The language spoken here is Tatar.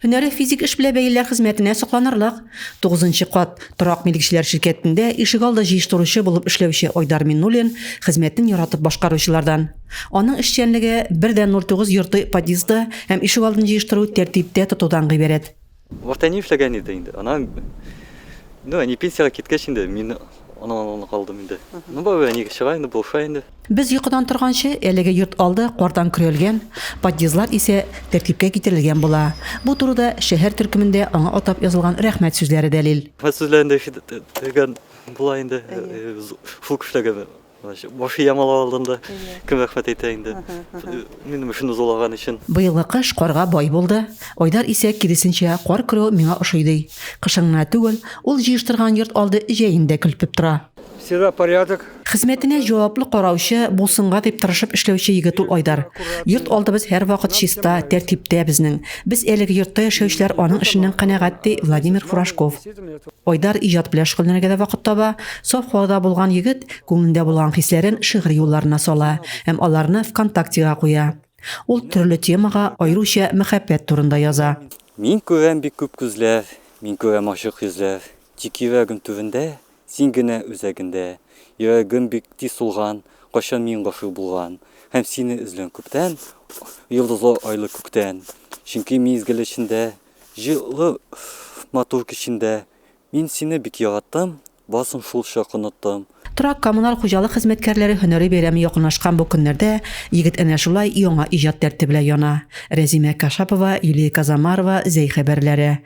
Һөнәре физик эш белә бәйлеләр хезмәтенә сокланырлык. Тугызынчы кат торак милекчеләр ширкәтендә ишегалды җыештыручы булып эшләүче Айдар Миннуллин хезмәтен яратып башкаручылардан. Аның эшчәнлеге бер дә 09 йорты подъезды һәм ишегалдын җыештыру, тәртиптә тотудан гыйбарәт. Вакытта ни эшләгән иде инде, анан, ну, әни пенсиягә киткәч инде, мин Аннан-моннан калдым инде. Ну, бабай, әниегә чыга инде, булыша инде. Без йокыдан торганчы, әлеге йорт алды кардан көрәлгән, подъездлар исә тәртипкә китерелгән була. Бу турыда шәһәр төркемендә аңа атап язылган рәхмәт сүзләре дәлил. Рәхмәт сүзләрен дә ишетелгән була инде шул кешеләргә. Башы ямал алдында кем рәхмәт әйтә инде, минем өчен озалаган өчен. Быелгы кыш карга бай булды. Айдар исә, киресенчә, кар көрү миңа ошый ди. Кышын гына түгел, ул җыештырган йорт алды җәен дә көлпеп тора. Всегда порядок. Хезмәтенә җаваплы караучы, булсынга дип тырышып эшләүче егет ул Айдар. Йорт алдыбыз һәрвакыт чиста, тәртиптә безнең. Без әлеге йортта яшәүчеләр аның эшеннән канәгать, ди Владимир Фуражков. Айдар иҗат белән шөгыльләнергә дә вакыт таба. Саф һавада булган егет күңелендә булган хисләрен шигырь юлларына сала һәм аларны ВКонтактега куя. Ул төрле темага, аеруча мәхәббәт турында яза. Мин күрәм бик күп күзләр, Мин күрәм ачык йөзләр, Тик йөрәгем түбендә, Син генә үзәгендә. Йөрәгем бик тиз сулган, Кайчан мин гашыйк булган, Һәм сине эзләм күптән, Йолдызлы айлы күктән. Чөнки мизгел эчендә, Җылы матур кичендә мин сине бик яраттым, барсын шулчак оныттым. Торак-коммуналь хуҗалык хезмәткәрләре һөнәри бәйрәме якынлашкан бу көннәрдә егет әнә шулай яңа иҗат дәрте белән яна. Рәзимә Кашапова, Юлия Казамарова, Зәй хәбәрләре.